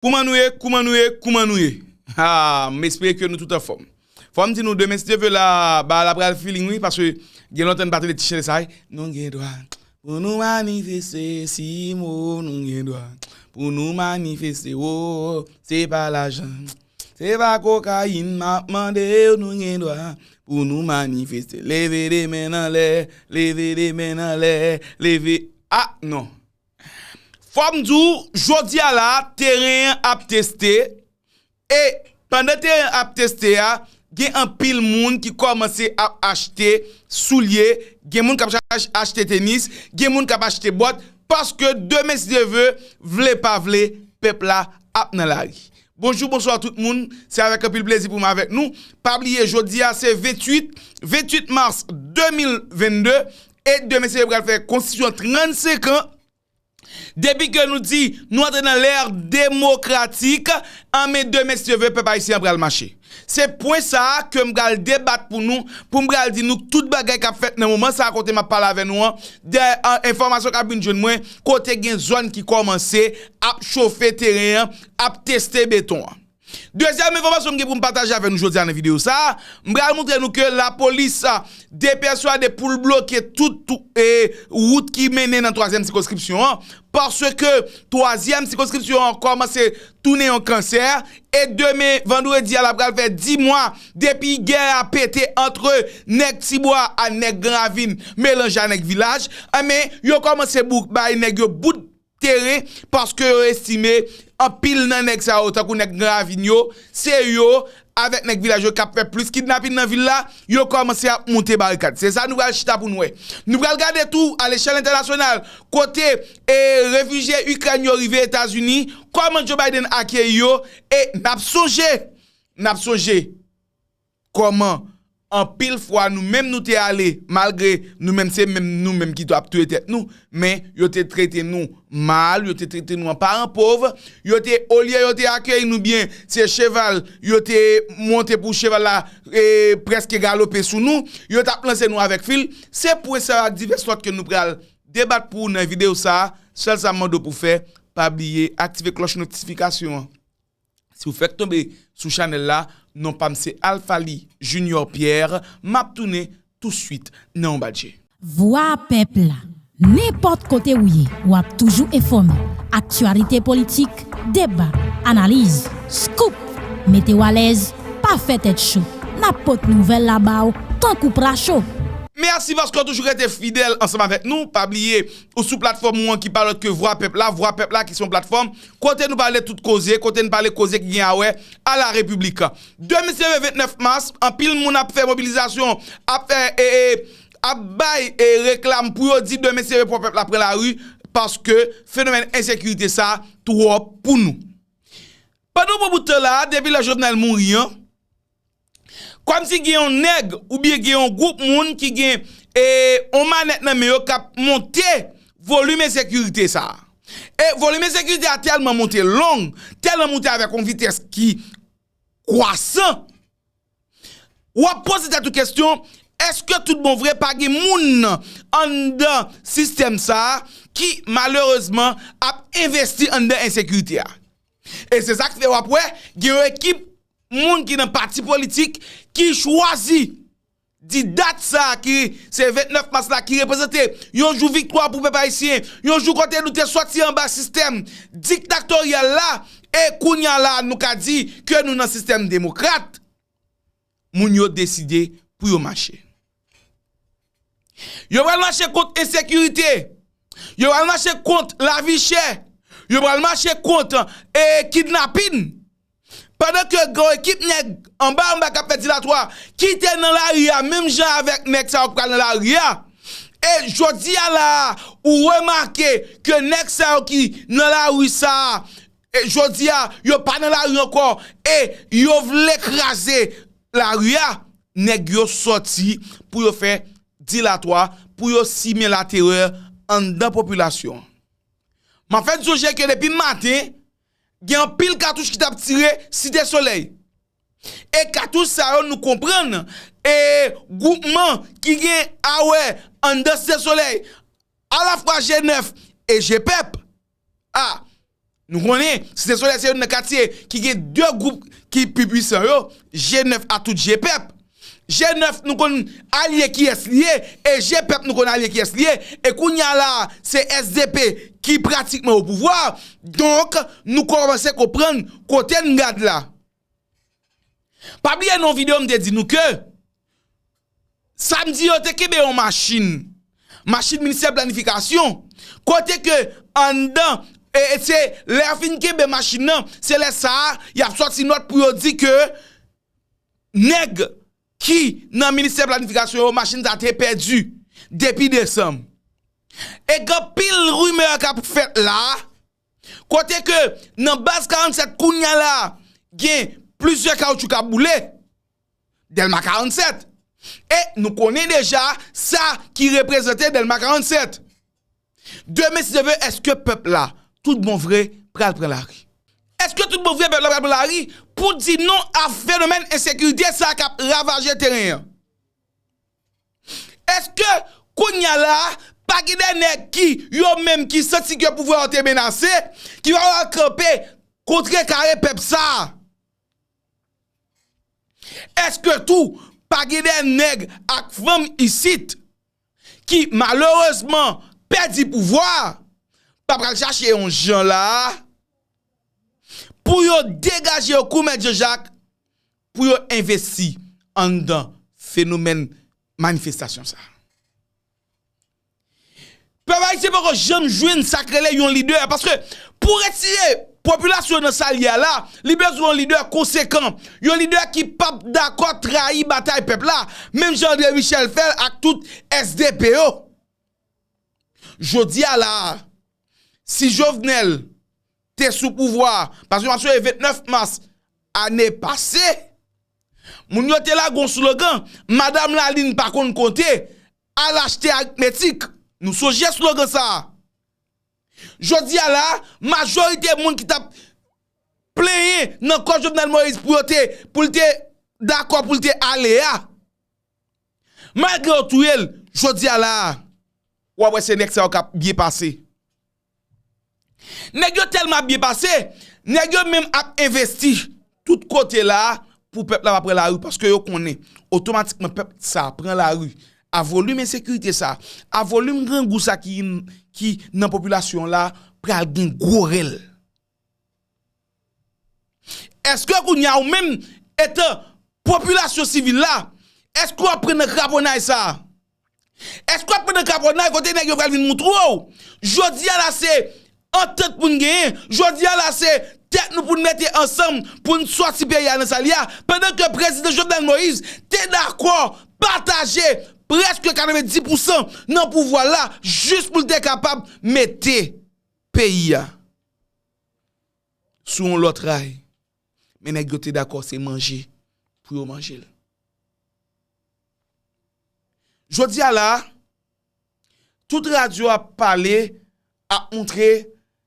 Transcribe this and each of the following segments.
Kouman nou ye, kouman nou ye, kouman nou ye? Haa, m espere ke nou tout anfòm. Fò m di nou demen si Dye ve la, bagay la pral feeling wi, paske gen lontan n pa tande ti chante sa a. Nou gen dwa pou nou manifeste si mo, nou gen dwa pou nou manifeste wo, se pa lajan, se pa kokayin m ap mande w, nou gen dwa pou nou manifeste. Leve de men n anlè, leve de men n anlè, leve, ah non! Fòm di w, jodi a la, teren an ap teste, e pandan teren an ap teste a, gen anpil moun ki kòmanse ap achte soulye, gen moun k ap achte tenis, gen moun k ap achte bòt, paske demen si Dye ve, vle pa vle, pèp la ap nan lari. Bonjou, bonswa tout moun, se avèk anpil plezi pou m avèk nou, pa bliye jodi a se 28, 28 mars 2022, E demen se yo pral fè konstitisyon 35 an, depi ke nou di nou antre nan lè demokratik, an men demen si Dye vle pèp ayisyen an pral mache. Se pwen sa a ke m pral debat pou nou, pou m pral di nou tout bagay k ap fèt nan moman sa a kote m ap pale avè nou an, dè enfòmasyon k ap vin jwenn mwen, kote gen zòn ki kòmanse ap chofe teren an, ap teste beton an. Dezyèm enfòmasyon m gen pou m pataje avè nou jodi a nan videyo sa, m pral moutre nou ke lapolis depèswade pou l bloke tout wout ki mennen nan twazyèm sikonskripsyon an, paske twazyèm sikonskripsyon an kòmanse tounen yon kansè, e demen vandredi a la pral fè di mwa depi gè a pete antre nèg ti bwa a nèg gran ravin melanje a nèg vilaj, enben yo kòmanse bay nèg yo bout. teren paske yo estime anpil nan nèg sa yo tankou nèg gran ravin yo se yo avèk nèg vilaj yo kap fè plis kidnapin nan vil la yo kòmanse ap moute barikad se sa nou pral chita pou nou wè nou pral gade tou alechèl entènasyonal kote refijye ikrèn yo rive etazini kòman Joe Biden akeyi yo e nap sonje nap sonje. Kòman anpil fwa nou menm nou te ale malgre nou menm se menm nou menm ki ap touye tèt nou men yo te trete nou mal yo te trete nou an paran pov yo te olye yo te akeyi nou byen se cheval yo te monte pou cheval la preske galope sou nou yo t ap lanse nou avèk fil se pwen sa yo ak divès lòt ke nou pral debat pou ou nan videyo sa sèl sa m mande w pou w fè pa bliye aktive klòch notifikasyon an. Si ou fèk tonbe sou chanèl la, non pam se Alphaly Junior Pierre, map tounen tou swit nan yon bat je. Vwa pèp la, nenpòt kote ou ye, ou ap toujou enfòme, aktyalite politik, deba, analiz, scoop, mete w alèz, pa fè tèt cho, nap pot nouvèl la ba w tankou pra cho. Mèsi paske w toujou rete fidèl ansanm avèk nou, pa bliye ou sou platfòm ou an ki pa lòt ke vwa pèp la, vwa pèp la ki se yon platfòm Kote nou pale tout koze, kote n pale koze ki gen awè a la repiblik. Demi se le 29 mas, anpil moun ap fè mobilizasyon, ap fè e, e, ap bay e reklam pou yo di demi se le pou pèp la pran lari, paske fenomèn ensekirite sa twòp pou nou. Pandan bon bout tan la a, depi lè Jovenel mouri an, Kòm si gen yon nèg oubyen gen yon gwoup moun ki gen yon manèt nan men yo kap monte volim ensekirite sa. E volim ensekirite a tèlman monte long, tèlman monte avèk yon vitès ki kwasan, wap poze tèt ou kestyon, eske tout bon vre pa gen moun anndan sistèm sa ki malerezman ap envesti anndan ensekirite a. E se sak fè wap wè gen yon ekip Moun ki nan pati politik ki chwazi di dat sa a ki se 29 mas la ki reprezante yon jou viktwa pou pèp ayisyen, yon jou kote nou te sòti anba sistèm diktaktoryal la e kounya la a nou ka di ke nou nan sistèm demokrat, moun yo deside pou yo mache. Yo pral mache kont ensekirite, yo pral mache kont lavi chè, yo pral mache kont e kidnapin. Padan ke gen yon ekip nèg anba anba kap fè dilatwa ki te nan lari a menm jan avèk nèg sa yo ki pral nan lari a. E jodi a la a ou remake ke nèg sa yo ki nan lari sa a Jodi a, yo pa nan lari ankò e yo vle kraze lari a. Nèg yo sòti pou yo fè dilatwa, pou yo simen laterè anndan popilasyon an. M ap fè n sonje ke depi maten, gen anpil katouch ki t ap tire Site Solèy. E katouch sa yo nou konprann, e gwoupman ki gen awè anndan Site Solèy, alafwa G9 e G-Pep, A. Nou konnen, Site Solèy se youn nan katye ki gen 2 gwoup ki pi pwisan yo, G9 a tout je pèp. G9 nou konn alye kiyès li ye e je pèp nou konn alye kiyès li ye. E kounye a la a, se sdp ki pratikman opouvwa a. Donk, nou kòmanse konprann kote n gad la. Pa bliye nan yon video m te di nou ke Samdi yo te kenbe yon machin, machin ministè planifikasyon, kote ke anndan, e se lè yo fin kenbe machin nan, se lè sa a y ap sòti nòt pou yo di ke nèg ki nan ministè planifikasyon yo machin sa te pèdi depi desanm. E gen pil rimè k ap fèt la. Kote ke nan baz 47 kounya la gen plizyè kawoutchou kap boule. Dèlma 47. E nou konnen deja sa ki reprezante dèlma 47. Demen si Dye ve eske pèp la tout bon vre pral pran lari? Eske tout bon vre pèp la pral pran lari pou di non a fenomèn ensekirite sa kap ravaje teren an? Eske kounya la a, pa gen de nèg ki, yo menm ki santi ke pouvwa yo te menase, ki pa pral kanpe kontre kare pèp sa a? Eske tou, pa gen de nèg ak fanm isit, ki malerezman pèdi pouvwa a, pa pral chache yon jan la a, pou yo degaje yo kou mèt Jan Jak, pou yo envesti anndan fenomèn manifestasyon sa a. Pèp ayisyen poko janm jwenn sa k rele yon lidè paske pou retire popilasyon nan sa l ye a la, li bezwen yon lidè konsekan, yon lidè ki p ap dakò trayi batay pèp la, menm jan Andre Michel fè l ak tout SDP yo. Jodi a la a. Si Jovenel te sou pouvwa, paske map sonje 29 mas ane pase, moun yo te lage yon slogan, Madam Lalin pa konn konte, al achte aritmetik. Nou sonje slogan sa a. Jodi a la, majorite moun ki tap plenyen nan kò Jovenel Moïse pou yo te, pou li te dakò pou li te ale a, Malgre yo touye l, jodi a la a, w ap wè se nèg sa yo k ap byen pase. Nèg yo tèlman ap byen pase, nèg yo menm ap envesti tout kote la a pou pèp la pa pran lari paske yo konnen otomatikman pèp sa a pran lari. A volim ensekirite sa a, a volim grangou sa a ki nan popilasyon la a pral gen gwo rèl. Eske kounye a ou menm etan popilasyon sivil la, eske w ap pran nan kraponay sa a? Eske w ap pran nan kraponay kote nèg yo pral vin moutre w, jodi a la se antant pou n genyen, jodi a la se tèt nou pou n mete ansanm pou n sòti peyi a nan sa l ye a, pandan ke Prezidan Jovenel Moïse te dakò pataje prèske 90 pousan nan pouvwa l la jis pou l te kapab mete. Peyi a sou yon lòt ray, men nèg yo te dakò se manje pou yo manje l. Jodi a la a, tout radyo ap pale, ap montre,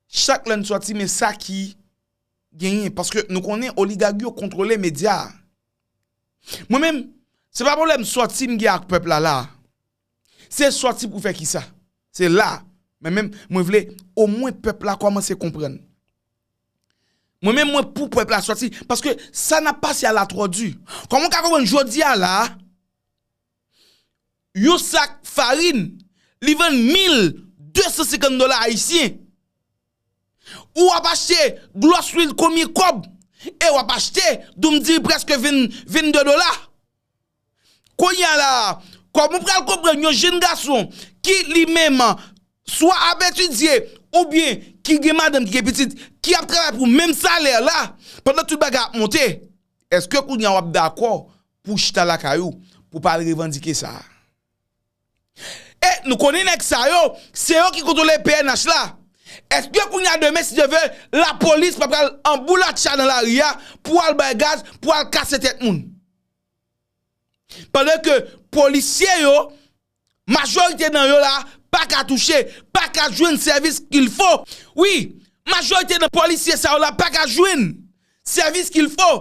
chak lè n sòti men sa ki genyen. Paske nou konnen oligag yo kontwole medya a. Mwen menm, se pa pwoblèm sòti m gen ak pèp la la a. Se sòti pou fè kisa? Se la a mwen menm mwen vle omwen pèp la kòmanse konprann. Mwen menm mwen pou pèp la sòti paske sa n ap pase a la twò di. Kòman w ka konprann jodi a la a, yon sak farin li vann 1250 dola ayisyen, ou ap achte glòs lwil konbyen kòb e w ap achte doum diri prèske 22 dola? Kounya la a, kòman ou pral konprann yon jenn gason ki li menm swa ap etidye oubyen ki gen madanm ki gen pitit ki ap travay pou menm salè la pandan tout bagay ap monte? Eske kounya w ap dakò pou w chita lakay ou pou w pa al revandike sa a? E nou konnen nèg sa yo, se yo ki kontwole pnh la. Eske kounya demen si Dye ve, lapolis pa pral anboulatcha nan lari a pou al bay gaz, pou al kase tèt moun? Pandan ke polisye yo, majorite nan yo la, pa ka touche, pa ka jwenn sèvis kil fo. Wi, majorite nan polisye sa yo la pa ka jwenn sèvis kil fo.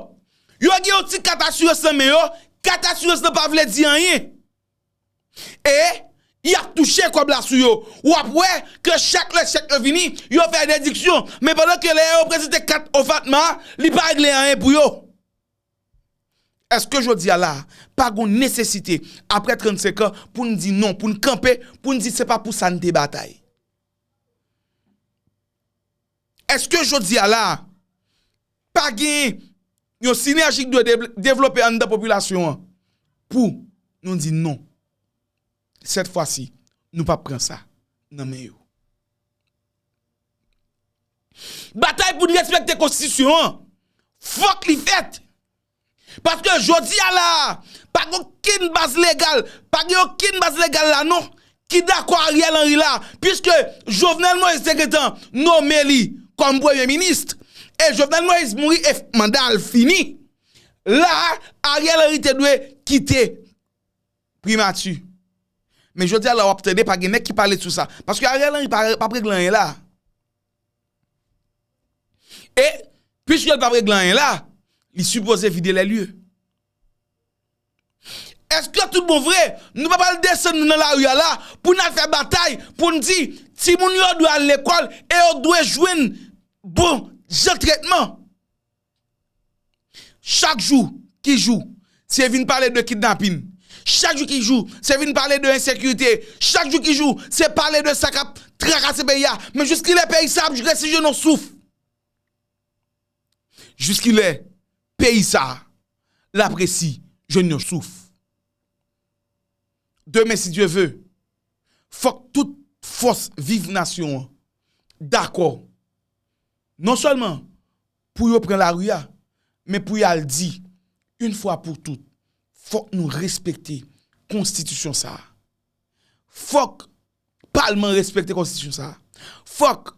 Yo gen yon ti kat asirans nan men yo, kat asirans nan pa vle di anyen. E, y ap touche kòb la sou yo. W ap wè ke chak lè chèk yo vini, yo fè dediksyon. Men pandan ke lè yo prezante kat OFATMA, li pa regle anyen pou yo. Èske jodi a la a, pa gon nesesite, apre 35 an, pou n di non, pou n kanpe, pou n di se pa pou sa n te batay? Èske jodi a la a, pa gen yon sinèji k dwe devlope anndan popilasyon an pou nou di non? Sèt fwa si nou pap pran sa nan men yo. Batay pou n respekte konstitisyon an fòk li fèt. Paske jodi a la a pa gen okenn baz legal, pa gen okenn baz legal la non ki dakò Ariel Henry la puiske Jovenel Moïse te gentan nome li kòm premye minis e Jovenel Moïse mouri e manda l fini. La a Ariel Henry te dwe kite. primati. Men jodi a la wap tande pa gen nèg ki pale sou sa. Paske Ariel Henry pap regle anyen la. E, pwiske l pap regle anyen la, li sipoze vide lè lye. Eske tout bon vre, nou pa pral desann nou nan la ri a la, pou n al fè batay, pou n di, ti moun yo dwe al lekòl, e yo dwe jwenn bon jan tretman. Chak jou ki jou, se vin pale de kidnapin. Chak jou ki jou, se vin pale de ensekirite. Chak jou ki jou, se pale de sa k ap trakase peyi a. Men jiskilè peyi sa ap resi jwenn yon souf? Jiskilè peyi sa l ap resi jwenn yon souf? Demen si Dye ve, fòk tout fòs viv nasyon an dakò. Non sèlman pou yo pran lari a, men pou y al di, Yn fwa pou tout, fòk nou respekte konstitisyon sa a. Fòk palman respekte konstitisyon sa a. Fòk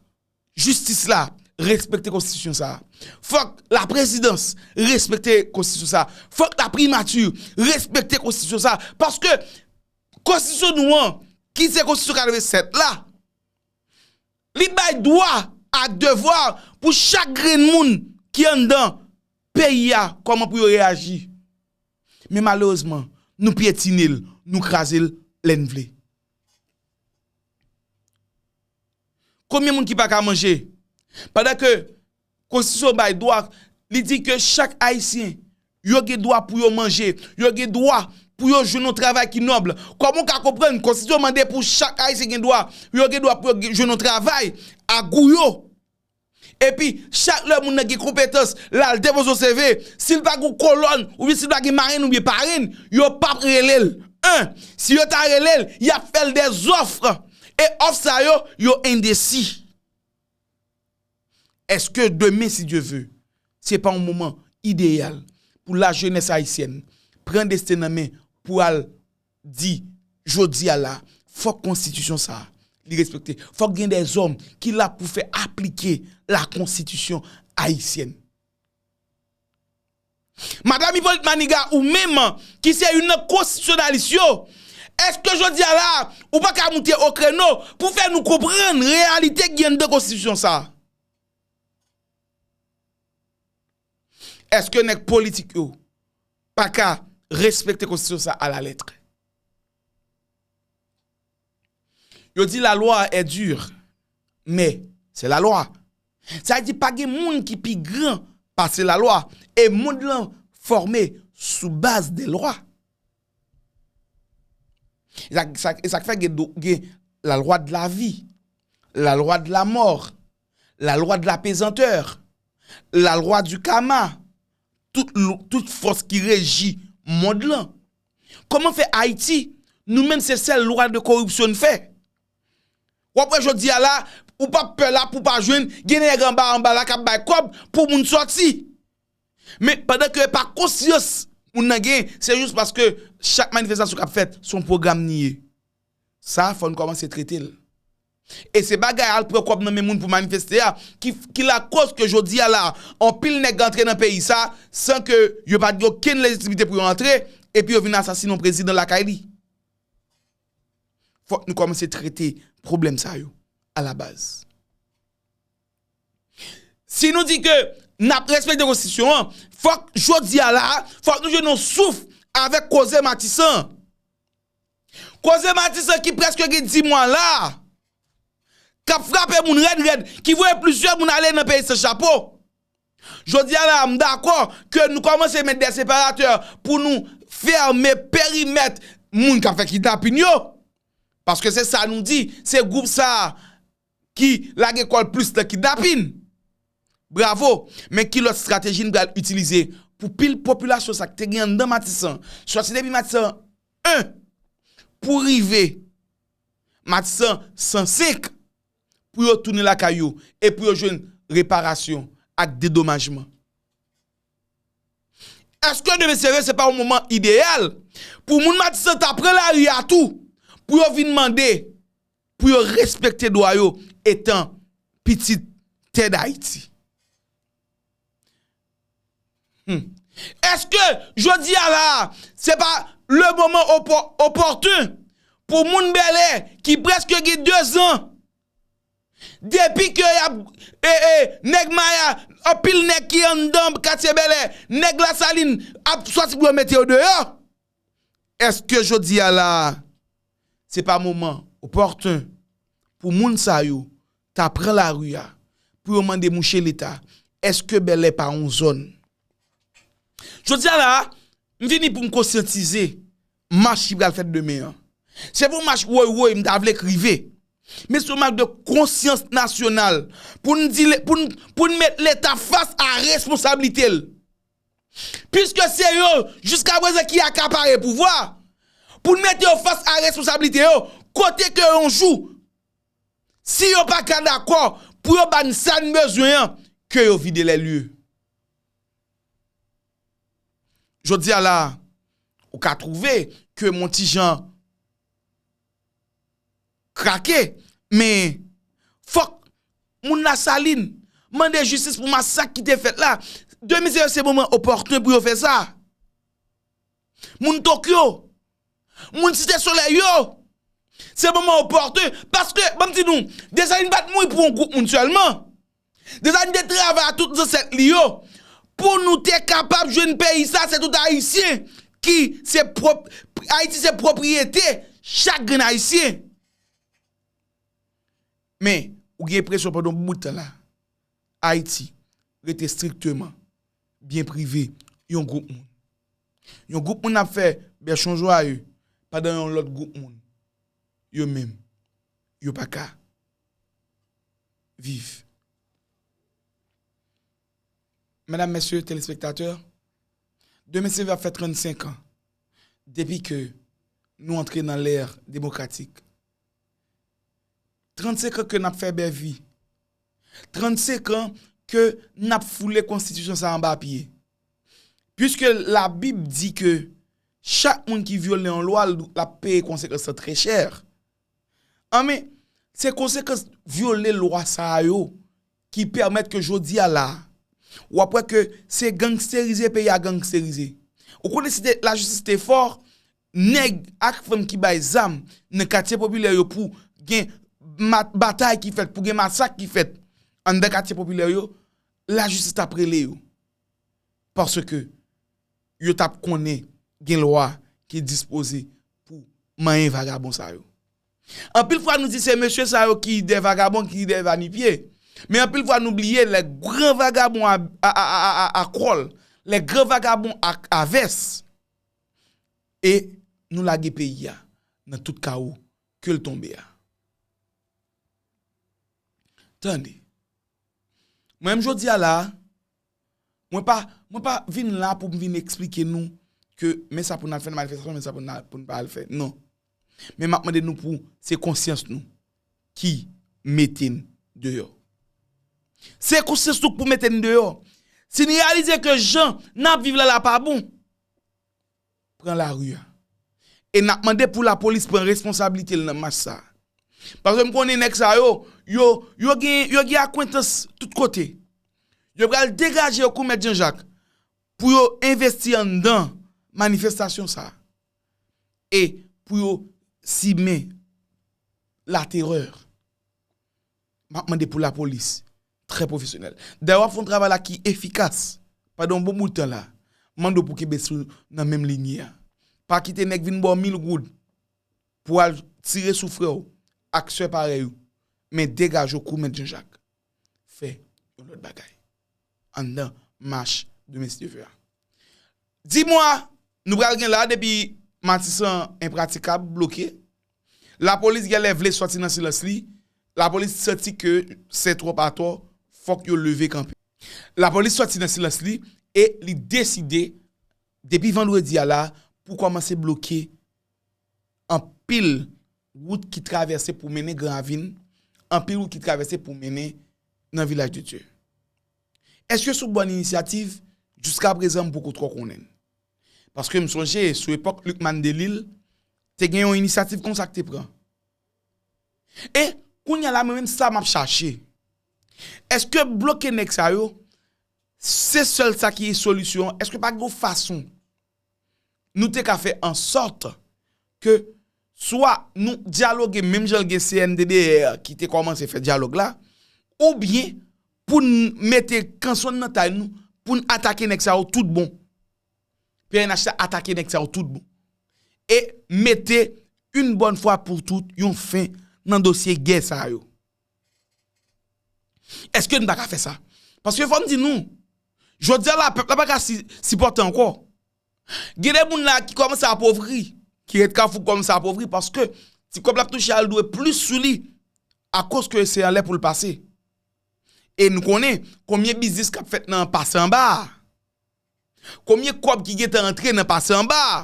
jistis la respekte konstitisyon sa a. Fòk laprezidans respekte konstitisyon sa a. Fòk laprimati respekte konstitisyon sa a. Paske konstitisyon nou an, ki se konstitisyon 87 la, Li bay dwa ak devwa pou chak grenn moun ki anndan peyi a kòman pou yo reyaji. Men malerezman, nou pyetine l, nou kraze l lè n vle. Konbyen moun ki pa ka manje? Pandan ke. Konstitisyon bay dwa, li di ke chak Ayisyen, yo gen dwa pou yo manje, yo gen dwa pou yo jwenn yon travay ki nòb. Kòman ou ka konprann Konstitisyon mande pou chak Ayisyen gen dwa, yo gen dwa pou yo jwenn yon travay a gou yo? Epi, chak lè moun nan gen konpetans, l al depoze yon CV, si l pa gen yon kolòn, oubyen si l pa gen marenn oubyen parenn, yo p ap rele l. 1, Si yo ta rele l, y ap fè l dè zòf, e òf sa yo, yo endesi. Eske demen si Dye ve, se pa yon moman ideyal pou lajenès ayisyèn pran desten nan men pou al di jodi a la fòk konstitisyon sa a li respekte, fòk gen de zòm ki la pou fè aplike lakonstitisyon ayisyèn? Madam Hyppolite Maniga ou menm ki se youn nan konstitiyonalis yo, eske jodi a la ou pa ka moute o kreno pou fè nou konprann reyalite ki gen anndan konstitisyon sa? Eske nèg politik yo pa ka respekte konstitisyon sa a la lettre? Yo di la loi est dure mais c'est la loi. Sa di pa gen moun ki pi gran pase la loi e mond lan fòme sou baz de lwa. E sa k fè gen la loi de la vie, la loi de la mort, la loi de la pesanteur, la loi du karma, tout fòs ki reji mond lan Koman fè Haiti nou menm se sèl lwa de koripsyon n fè? Wap wè jodi a la ou pap pè la pou pa jwenn gen nèg anba anba la kap bay kòb pou moun sòti. Men pandan ke epa konsyans moun nan gen se jis paske chak manifestasyon kap fèt son pwogram ni ye. Sa fò n kòmanse trete l. E se bagay al pran kòb nan men moun pou manifeste a ki lakoz ke jodi a la a anpil nèg antre nan peyi sa a san ke yo pa gen okenn lejitimite pou yo antre epi yo vin asasine yon prezidan lakay li. Fòk nou kòmanse trete pwoblèm sa yo a la baz. Si nou di ke n ap respekte konstitisyon an, fòk jodi a la a, fòk nou jwenn yon souf avèk koze Matisan an. Koze Matisan ki prèske gen dimwa la a, k ap frape moun rèd rèd, ki voye plizyè moun ale nan peyi san chapo. Jodi a la a, m dakò ke nou kòmanse met dè separatè pou nou fèmen perimèt moun k ap fè kidnapin yo, paske se sa nou di, se gwoup sa a ki lage kò l plis nan kidnapin. Bravo, men ki lòt strateji n pral itilize pou pil popilasyon sa k te gen anndan Matisan, sòti depi Matisan 1 pou rive Matisan 105, pou yo tounen lakay yo e pou yo jwenn reparasyon ak dedomajman? Èske demen sere se pa yon moman ideyal pou moun Matisan ta pran lari a tou pou yo vin mande pou yo respekte dwa yo etan pitit tè Dayiti. Eske jodi a la a, se pa le moman opòten pou moun Bèlè ki preske gen 2 zan, depi ke y ap, e, e, nèg Maya, anpil nèg ki anndan katye Bèlè, nèg Lasalin ap sòti pou yo mete yo deyò? Eske jodi a la a se pa moman opòtun pou moun sa yo ta pran lari a pou yo mande mouche leta eske Bèlè pa yon zòn? Jodi a la a, m vini pou m konsyantize mach ki pral fèt demen an. Se pa yon mach woy woy m ta vle k rive, men se yon mach de konsyans nasyonal pou n di, pou n met leta fas a responsablite l. Piske se yo, jiska prezan ki akapare pouvwa, pou n mete yo fas a responsablite yo, kote ke yon jou, si yo pa ka dakò pou yo ba n sa n bezwen an, ke yo vide lè lye. Jodi a la, ou ka twouve ke m on ti jan. Krake, men, fòk, moun Lasalin, mande jistis pou masak ki te fèt la. De mizè yo se moman opòtun pou yo fè sa. Moun Tokyo, moun Site Solèy yo, se moman opòtun, paske, banm di nou, Desalin pa t mouri pou yon gwoup moun sèlman. Deza li te travay a tout zansèt li yo pou nou te kapab jwenn peyi sa se tout ayisyen ki se prop ayiti se propriyete chak grenn ayisyen men ou gen enpresyon pandan yon bout tan la ayiti rete estrikteman byen prive yon gwoup moun yon gwoup moun ap fè bèchon jwaye pandan yon lòt gwoup moun yo menm yo pa ka viv. Medam mesye telespektatè, demen se va fè 35 an depi ke nou antre nan lè demokratik. 35 an ke nap fè bèvi, 35 an ke nap foule konstitisyon sa anba pye. Piske la bib di ke chak moun ki vyole yon lwa lap peye konsekans lan trè chè. An men, se konsekans vyole lwa sa a yo ki pèmèt ke jodi a la a, w ap wè ke se gangsterize peyi a gangsterize. Ou konnen si lajistis te fò, nèg ak fanm ki bay zam nan katye popilè yo pou gen batay ki fèt, pou gen masak ki fèt anndan katye popilè yo, lajistis t ap rele yo. paske yo t ap konnen gen lwa ki dispoze pou manyen vagabon sa yo. Anpil fwa nou di se mesye sa yo ki de vagabon, ki de va ni pye, men anpil fwa nou bliye lè gran vagabon a kòl, lè gran vagabon a vès, e nou lage peyi a nan tout kawo ke l tonbe a. Tande! Mwen menm jodi a la a, mwen pa, mwen pa vin la pou m vin eksplike nou ke men sa pou n al fè nan manifestasyon, men sa pou n pa al fè. Non. Men m ap mande nou pou se konsyans nou ki mete n deyò. Se konsyans nou k pou mete n deyò. Si n reyalize ke jan n ap viv la la pa bon. pran lari a. E n ap mande pou lapolis pran responsablite l nan mach sa a. Paske m konnen nèg sa yo, yo, yo gen, yo gen akwentans tout kote. Yo pral degaje yo kou mèt Janjak pou yo envesti anndan manifestasyon sa a. E pou yo simen laterè. Map mande pou la polis trè profesyonèl. Dayè wap fè yon travay la ki efikas pandan yon bon bout tan la. Mande w pou kenbe sou nan menm linye a. Pa kite nèg vin ba w mil goud pou al tire sou frè w ak sè parèy ou. Men degaje w kou mèt Janjak. Fè yon lòt bagay. Anndan mach demen si Dye vle a. Di mwa nou pral gen la depi matisan enpratikab, bloke. Lapolis gèlè vle sòti nan silans li, lapolis santi ke sè twòp atò, fòk yo leve kanpe. Lapolis sòti nan silans li e li deside depi vandredi a la pou kòmanse bloke anpil wout ki travèse pou mennen Gran Ravin, anpil wout ki travèse pou mennen nan Vilaj de Dye. Eske sou bòn inisyativ? Jiskaprezan m poko twò konnen. Paske m sonje sou epòk Lucmane Delille te gen yon inisyativ konsa k te pran. E kounya la mwen menm sa m ap chache. Eske bloke nèg sa yo se sèl sa ki solisyon an? Eske pa gen yon fason nou te ka fè ansòt ke swa nou dyaloge menm jan gen CNDDR ki te kòmanse fè dyalòg la oubyen poun mete kanson nan tay nou poun atake nèg sa yo tout bon pnh la atake nèg sa yo tout bon e mete yn bòn fwa pou tout yon fen nan dosye gè sa yo eske n pa ka fè sa paske fòm di nou jodi a la pèp la pa ka sipòte ankò gen de moun la ki kòmanse apovri ki ret kafou kòmanse apovri paske ti kòb lap touche al dwe plis sou li akoz ke se alè poul pase. E nou konnen konbyen biznis k ap fèt nan pase anba a. Konbyen kòb ki gentan antre nan pase anba a.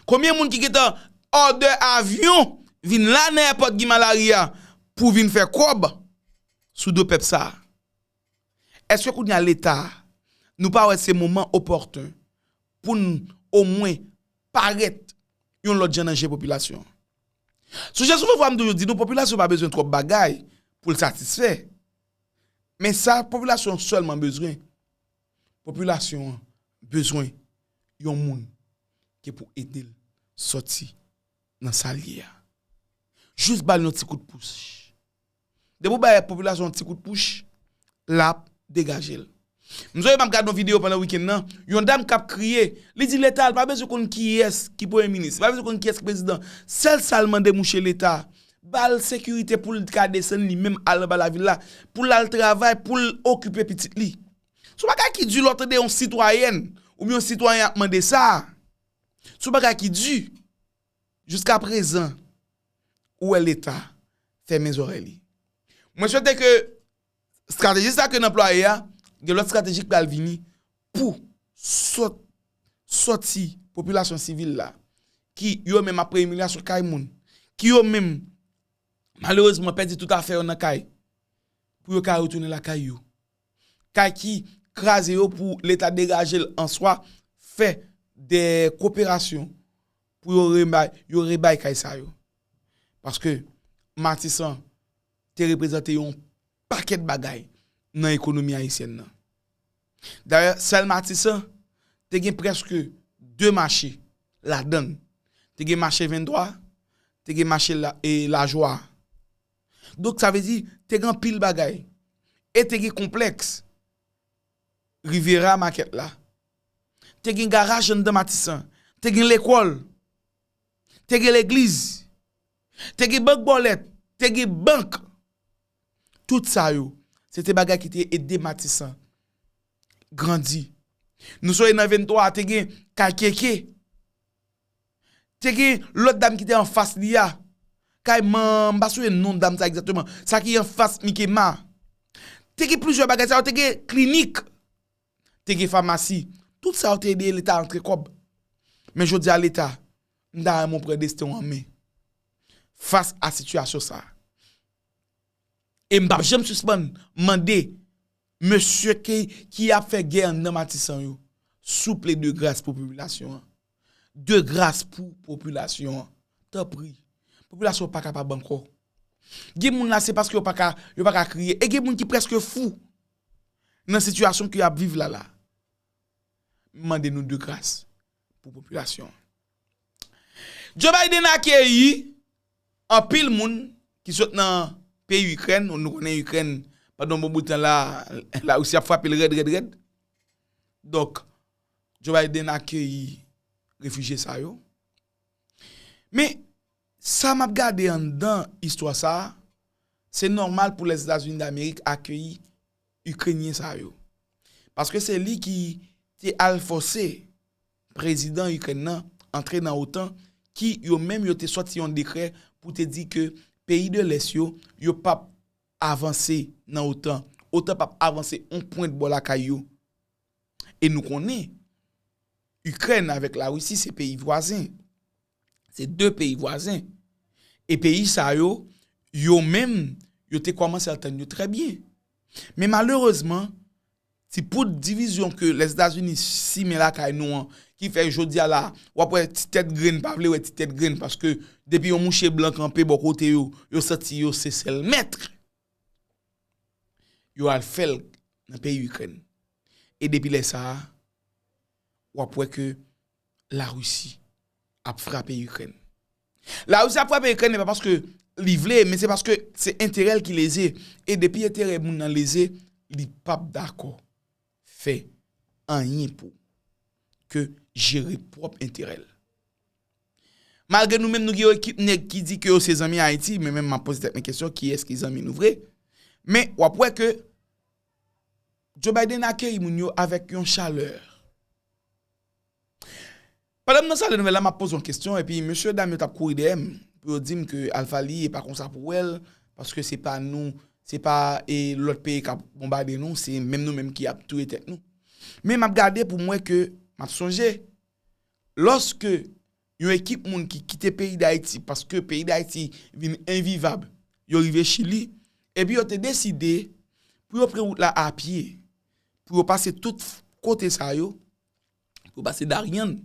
Konbyen moun ki gentan òdè avyon vin la nan èpòt Guy Malary a pou vin fè kòb sou do pèp sa a. Eske kounye a Leta nou pa wè se moman opòten pou n omwen parèt yon lòt jan nan je popilasyon an. Soujè souvèvwa m toujou di nou popilasyon pa bezwen twòp bagay pou l satisfè. Men sa popilasyon an sèlman bezwen, popilasyon an bezwen yon moun ki pou ede l sòti nan sa l ye a. Jis ba l yon ti kout pous. Depi ou bay popilasyon yon ti kout pouch, lap degaje l. M sonje map gade yon video pandan wikenn nan, yon dam kap kriye, li di leta l pa bezwen konn kiyès ki premye minis, li pa bezwen konn kiyès ki prezidan, sèl sa l mande mouche leta, ba l sekirite pou l ka desann li menm al anba lavil la, pou l al travay, pou l okipe pitit li. Se yon bagay ki di lè w tande yon sitwayèn oubyen yon sitwayen ap mande sa. Se yon bagay ki di. Jiska prezan ou wè leta fèmen zòrèy li. Mwen swete ke strateji sa ke n anplwaye a, gen lòt strateji k pral vini pou sòti popilasyon sivil la ki yo menm ap pran imilyasyon kay moun, ki yo menm malerezman pèdi tout afè yo nan kay pou yo ka retounen lakay yo. kay ki kraze yo pou leta degaje l an swa fè de koperasyon pou yo rebay kay sa yo. Paske matisan te reprezante yon pakèt bagay nan ekonomi ayisyèn nan. Dayè sèl matisan te gen prèske 2 mache ladann. Te gen mache 23, te gen mache lajwa. Donk sa vle di, te gen anpil bagay. E te gen konplèks Riviera Market la. Te gen garaj anndan Matisan. Te gen lekòl. Te gen legliz. Te gen bank bòlèt. Te gen bank. Tout sa yo, se te bagay ki te ede Matisan grandi. Nou sonje nan 23 a, te gen kay KK. Te gen lòt dam ki te anfas li a. Kay man, m pa souye non dam sa egzatteman. Sa ki anfas Mikema. Te gen plizyè bagay sa yo. Te gen klinik. Te gen famasi. Tout sa yo te ede leta antre kòb. Men jodi a leta, m ta renmen w pran desten w an men. Fas a sitiyasyon sa. E m pap janm sispann mande mesye ki ap fè gè anndan Matisan yo. Souple de gras pou popilasyon an. De gras pou popilasyon an. Tanpri. Popilasyon an pa kapab ankò. Gen moun la se paske yo pa ka, yo pa ka kriye. E gen moun ki preske fou nan sitiyasyon ke y ap viv la la. M mande nou de gras pou popilasyon an. Joe Biden akeyi anpil moun ki sot nan peyi Ikrèn. Nou konnen Ikrèn pandan yon bon bout tan la, la Risi ap frape l rèd rèd rèd. Donk. Joe Biden akeyi refijye sa yo. Men, sa map gade anndan istwa sa, se nòmal pou Lèzetazini Damerik akeyi Ikrenyen sa yo. Paske se li ki te al fòse prezidan Ikrèn nan antre nan otan ki yo menm yo te sòti yon dekrè pou te di ke peyi de lès yo, yo pap avanse nan otan. Otan pap avanse yon pwent bò lakay yo. E nou konnen Ikrèn avèk Larisi se peyi vwazen. Se 2 peyi vwazen. E peyi sa yo, yo menm, yo te kòmanse antann yo trè byen. Men malerezman, ti poud divizyon ke Lèzetazini simen lakay nou an, ki fè jodi a la, w ap wè ti tèt grenn pa vle wè ti tèt grenn paske depi yon mouche blan kanpe bò kote yo, yo santi yo se sèl mèt. yo al fè l nan peyi Ikrèn. E depi lè sa a, w ap wè ke Larisi ap frape Ikrèn. Larisi ap frape Ikrèn e pa paske li vle, men se paske se enterè l ki leze. E depi enterè moun nan leze, li p ap dakò. fè anyen pou ke jere pwòp enterè l. Malgre nou menm nou gen yon ekip nèg ki di ke yo se zanmi Ayiti, men menm map poze tèt mwen kesyon kiyès ki zanmi nou vre? Men wap wè ke Joe Biden akeyi moun yo avèk yon chalè. Pandan m nan sal de nouvèl la m ap poze yon kesyon epi mesye dam yo t ap kouri dèyè m pou yo di m ke Alpha li e pa konsa pou wè l paske se pa nou, se pa lòt peyi k ap bonbade nou se menm nou menm ki ap touye tèt nou. Men m ap gade pou m wè ke m ap sonje lòske yon ekip moun ki kite peyi Dayiti paske peyi Dayiti vin envivab yo rive Chili epi yo te deside pou yo pran wout la apye pou yo pase tout kote sa yo. pou yo pase Darien,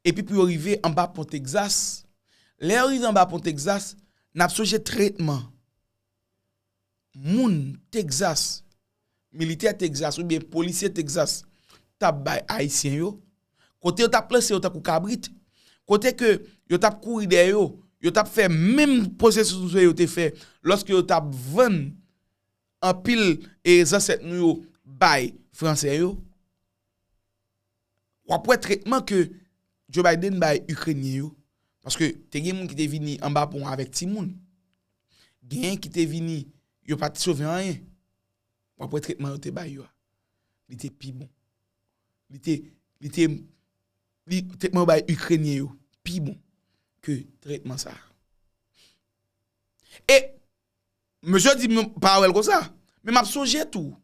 epi pou yo rive anba pon Texas. Lè yo rive anba pon Texas, n ap sonje tretman moun Texas, militè Texas oubyen polisye Texas t ap bay Ayisyen yo, kote yo t ap lanse yo tankou kabrit, kote ke yo t ap kouri dèyè yo, yo t ap fè menm pwosesis yo te fè lòske yo t ap vann anpil zansèt nou yo bay fransè yo, wap wè tretman ke Joe Biden bay Ikrenyen yo, paske te gen moun ki te vini anba pon an avèk timoun, genyen ki te vini yo pa te sove anyen, wap wè tretman yo te bay yo a, li te pi bon, li te, li te, li, tretman yo bay Ikrenyen yo pi bon ke tretman sa a. E! Mesye di m pa wè l konsa. Men m ap sonje tou.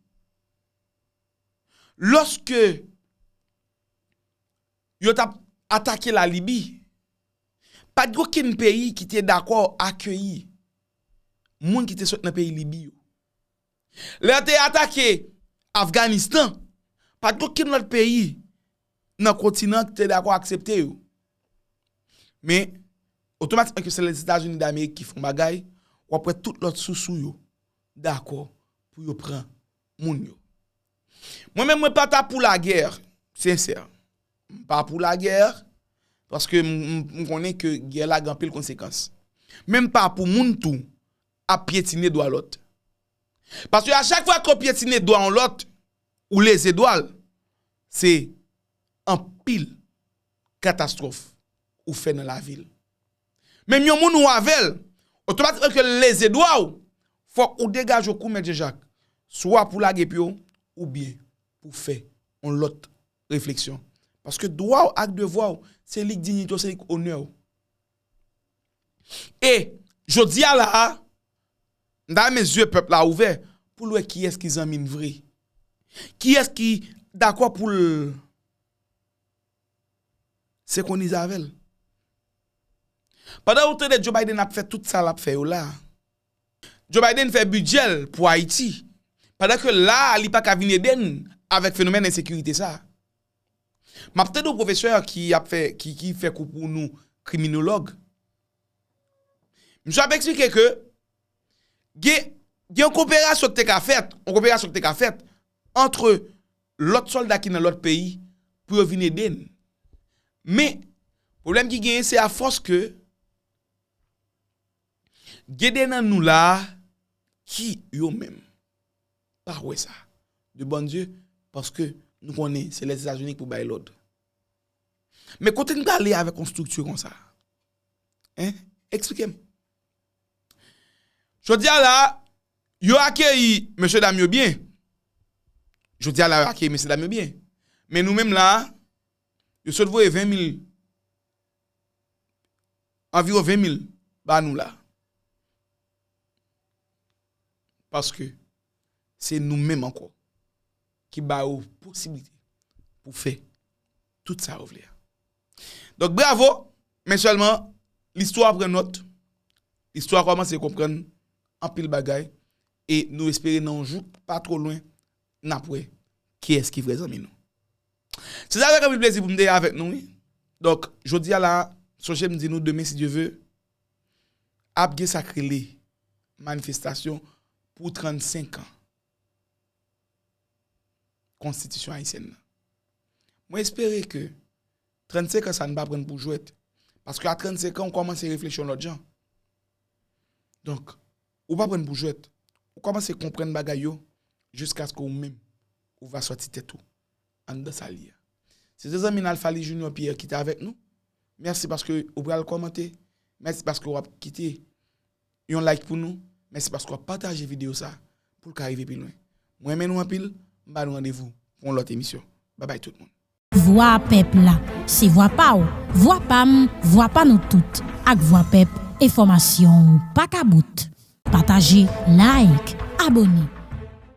Lòske yo t ap atake la Libi, pa t gen okenn peyi ki te dakò akeyi moun ki te sot nan peyi Libi yo. Lè yo te atake Afganistan, pa t gen okenn lòt peyi nan kontinan an ki te dakò aksepte yo. Men, otomatikman ke se Lèzetazini Damerik ki fè yon bagay, w ap wè tout lòt sousou yo dakò pou yo pran moun yo. Mwen menm mwen pa ta pou lagè, sensè. M pa pou lagè, paske m konnen ke gè la gen anpil konsekans. Men m pa pou moun tou ap pyetine dwa lòt. Paske a chak fwa ke w pyetine dwa yon lòt, Ou leze dwal se anpil katastrof ou fè nan lavil. Menm yon moun ou avèl otomatikman kel leze dwaw fòk ou degaje w kou mèt Janjak swa pou lage pye w ou byen pou fè yon lòt refleksyon paske dwaw ak devwaw se lik dinyite w se lik onèw. E, jodi a la a, m ta renmen zye pèp la ouvè pou l wè kiyès ki zanmi n vre. Kiyès ki dakò pou l senkwonize avè l. Pandan ou tande Joe Biden ap fè tout sa l ap fè yo la a, Joe Biden fè bidjè l pou Ayiti, pandan ke la a li pa ka vin ede n avèk fenomèn ensekirite sa a. Map tande yon pwofesè ki ap fè ki fè kou pou nou kriminolog. Misye ap eksplike ke gen yon koperasyon ki te ka fèt, yon koperasyon ki te ka fèt antre lòt sòlda ki nan lòt peyi pou yo vin ede n. Men, pwoblèm ki genyen se a fòs ke gen de nan nou la ki yo menm. pa wè sa de bon Dieu paske nou konnen se lèzetazini ki pou bay lòd men kote nou prale avèk yon strikti konsa hein esplikem jodia la yo akeyi mesye dam yo byen jodia la yo akeyi mesye dam yo byen men nou menm la yo sot voye 20 mil Anviwon 20 mil ba nou la. Paske se nou menm ankò ki ba yo posiblite pou fè tout sa yo vle a. Donk bravo, men sèlman listwa pran nòt, listwa kòmanse konprann anpil bagay e nou espere nan yon jou pa twò lwen n ap wè kiyès ki vrè zanmi nou. Se te avèk anpil plezi pou m te avèk nou wi. Donk, jodi a la, sonje m di nou demen si Dye ve, ap gen sa k rele manifestasyon pou 35 an konstitisyon ayisyèn nan. Mwen espere ke 35 an sa nou pa pran pou jwèt paske a 35 an ou kòmanse reflechi yon lòt jan. Donk. Ou pa prann pou jwèt. Ou kòmanse konprann bagay yo jiskaske ou menm ou va sòti tèt ou anndan sa l ye a. Se te zanmi n Alphaly Junior Pierre ki te avèk nou. Mèsi paske ou pral kòmante. Mèsi paske w ap kite yon like pou nou. Mèsi paske w ap pataje videyo sa pou l ka rive pi lwen. M renmen nou anpil. M ba nou randevou pou yon lòt emisyon. Babay tout moun. Vwa pèp la, se vwa pa w, vwa pa m, vwa pa nou tout. Ak vwa pèp, enfòmasyon w pa ka bout. Pataje, like, abone.